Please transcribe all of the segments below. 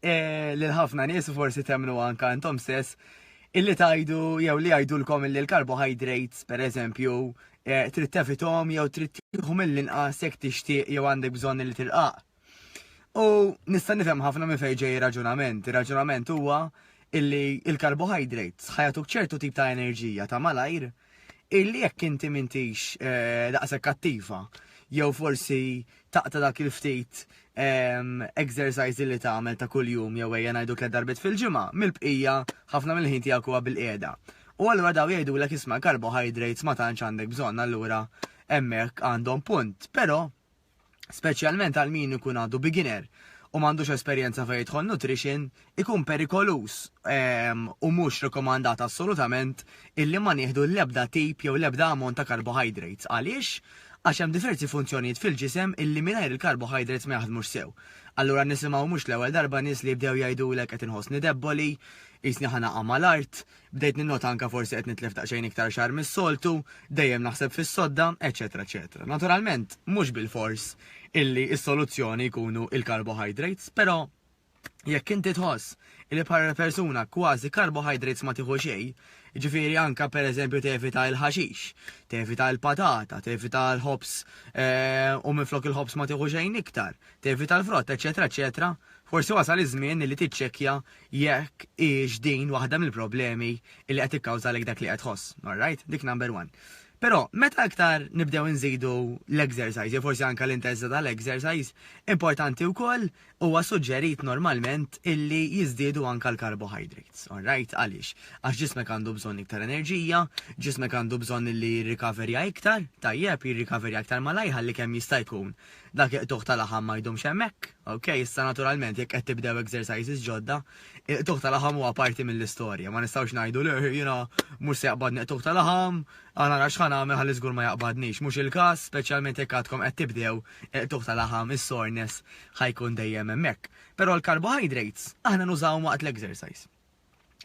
Eh, li l-ħafna nies forsi temnu anka intom stess illi tajdu jew li jgħidulkom illi l-carbohydrates per eżempju eh, trid tefitom jew trid tieħu mill-inqas jekk tixtieq jew għandek bżonn li tilqaq. U nista' nifhem ħafna minn fejn ġej raġunament. Ir-raġunament huwa illi il-carbohydrates ħajatuk ċertu tip ta' enerġija ta' malajr illi jekk inti mintix eh, daqshekk kattiva jew forsi taqta' dak il-ftit ehm, exercise li tagħmel ta' kuljum jew ejja ngħidu tliet darbit fil-ġimgħa mill-bqija ħafna mill-ħin tiegħek huwa bil-qiegħda. U allura daw jgħidulek isma' carbohydrates ma tantx għandek bżonn allura hemmhekk għandhom punt. Però speċjalment għal min ikun għadu beginner u m'għandux esperjenza fejn jidħol nutrition, ikun perikoluż ehm, u mhux rekomandat assolutament illi ma nieħdu l-ebda tip jew l-ebda ammont ta' carbohydrates. Għaliex? Għax hemm diversi funzjonijiet fil-ġisem illi mingħajr il-carbohydrates ma jaħdmux sew. Allura nisimgħu mhux l-ewwel darba nies li jibdew jgħidulek qed inħossni debboli, jisni ħana mal-art, Bdejt ninnota anke forsi qed nitlef daqsxejn iktar xagħar mis-soltu, dejjem naħseb fis-sodda, eċċetera eċċetera. Naturalment, mhux bilfors illi s-soluzzjoni jkunu l-carbohydrates, però jekk inti tħoss li bħala persuna kważi carbohydrates ma tieħu xejn, ġifieri anke pereżempju tevita l-ħaxix, tevita l-patata, tevita l-ħobs eh, u minflok il-ħobs ma tieħu xejn iktar, tevita l-frott, eċetera, eċetera, forsi wasal iż-żmien li tiċċekkja jekk hijiex din waħda mill-problemi li qed tikkawżalek dak li qed tħoss. All right? Dik number one. Però meta iktar nibdew inżidu l-exercise, jew forsi anke l-intensità tal-exercise, importanti wkoll huwa suġġerit normalment illi jiżdiedu anke l-carbohydrates. All right? Għaliex? Għax ġismek għandu bżonn iktar enerġija, ġismek għandu bżonn illi jirrikaverja iktar, tajjeb, jirrikaverja iktar malajr ħalli kemm jista' jkun Dak il-qtugħ ta' laħam ma jdumx hemmhekk, ok? Issa naturalment jekk qed tibdew exercises ġodda, il-qtugħ ta' laħam huwa parti mill-istorja. Ma nistgħux ngħidu le jiena mhux se jaqbadni qtugħ ta' laħam, aħna nara x'ħa nagħmel ħalli żgur ma jaqbadnix. Mhux il-każ, speċjalment jekk għadkom qed tibdew, il-qtugħ ta' laħam, is-soreness, ħa jkun dejjem hemmhekk. Però l-carbohydrates aħna nużawhom waqt l-exercise.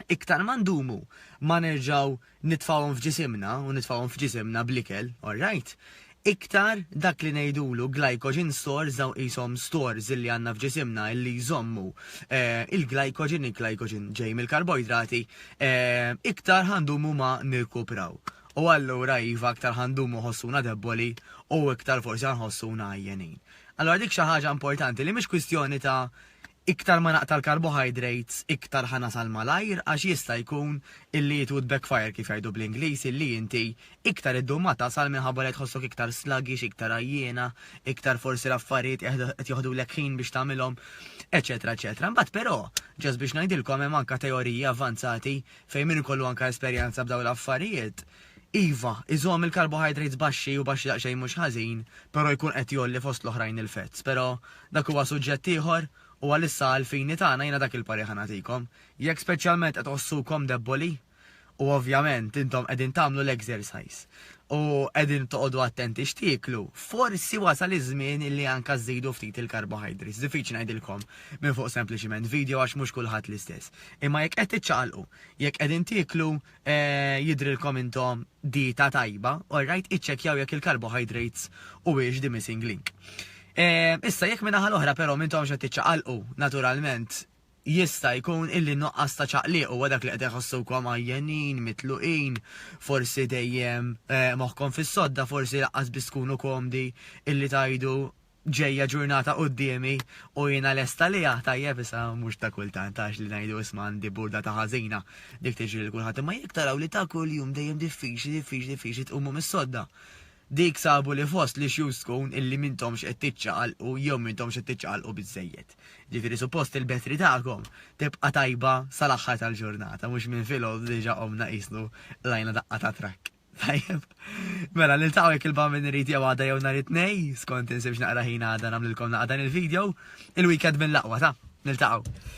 iktar ma ndumu ma nerġgħu nitfgħuhom f'ġisimna u nitfgħuhom f'ġisimna bl-ikel, alright, iktar dak li ngħidulu glycogen stores dawn qishom stores illi għandna f'ġisimna illi jżommu il-glycogen, il-glycogen ġej mill-karboidrati, iktar ħa ndumu ma nirkupraw. U allura iva iktar ħa ndumu ħossuna debboli u iktar forsi ħa nħossuna għajjenin. Allura dik xi ħaġa importanti li mhix kwistjoni ta' iktar ma naqta' l-carbohydrates iktar ħa nasal malajr għax jista' jkun illi it would backfire kif jgħidu bl-Ingliż illi inti iktar iddum ma tasal minħabba li qed tħossok iktar sluggish, iktar għajjiena, iktar forsi l-affarijiet qed joħdulek ħin biex tagħmilhom eċċetera eċċetera. Imbagħad però, ġast biex ngħidilkom hemm anke teoriji avvanzati fejn min ikollu anke esperjenza b'dawn l-affarijiet, Iva, iżomm il-carbohydrates baxxi u baxxi daqsxejn mhux ħażin, però jkun qed jgħolli fost l-oħrajn il-fats. Però, dak huwa suġġett ieħor u għalissa għall-fini tagħna jiena dak il-parir ħa nagħtikom. Jekk speċjalment qed tħossukom debboli, u ovvjament intom qegħdin tagħmlu l-exercise u qegħdin toqgħodu attenti x'tieklu, forsi wasal iż-żmien illi anke żżidu ftit il-carbohydrates. Diffiċli ngħidilkom minn fuq sempliċiment video għax mhux kulħadd l-istess. Imma jekk qed tiċċaqalqu, jekk qegħdin tieklu Jidhrilkom intom dieta tajba? Alright, iċċekkjaw jekk il-carbohydrates huwiex the missing link. Issa, jekk min-naħa l-oħra però m'intomx qed tiċċaqalqu, naturalment, jista' jkun illi n-nuqqas ta' ċaqliq huwa dak li qed iħossukom għajjenin, mitluqin, forsi dejjem moħħkom fis-sodda, forsi laqqas biss tkunu komdi illi tgħidu ġejja ġurnata quddiemi u jiena lest għaliha, tajjeb issa mhux ta' kultant għax li ngħidu isma' għandi burda ta' ħażina, dik tiġri lil kulħadd imma jekk taraw li ta' kuljum dejjem diffiċli diffiċli diffiċli tqumu mis-sodda. Dik sabu li fost l-issues tkun illi m'intomx qed tiċċaqalqu jew m'intomx qed tiċċaqalqu biżżejjed. Ġifieri suppost il-battery tagħkom tibqa' tajba sal-aħħar tal-ġurnata mhux minn filgħodu diġà qomna qisnu qlajna daqqa ta' trakk. Tajjeb. Mela, niltaqgħu jekk il-bamin irid jew għada jew nhar it-tnej, skont insibx naqra ħin għada nagħmlilkom naqra dan il-video, il-weekend mill-aqwa ta' niltaqgħu.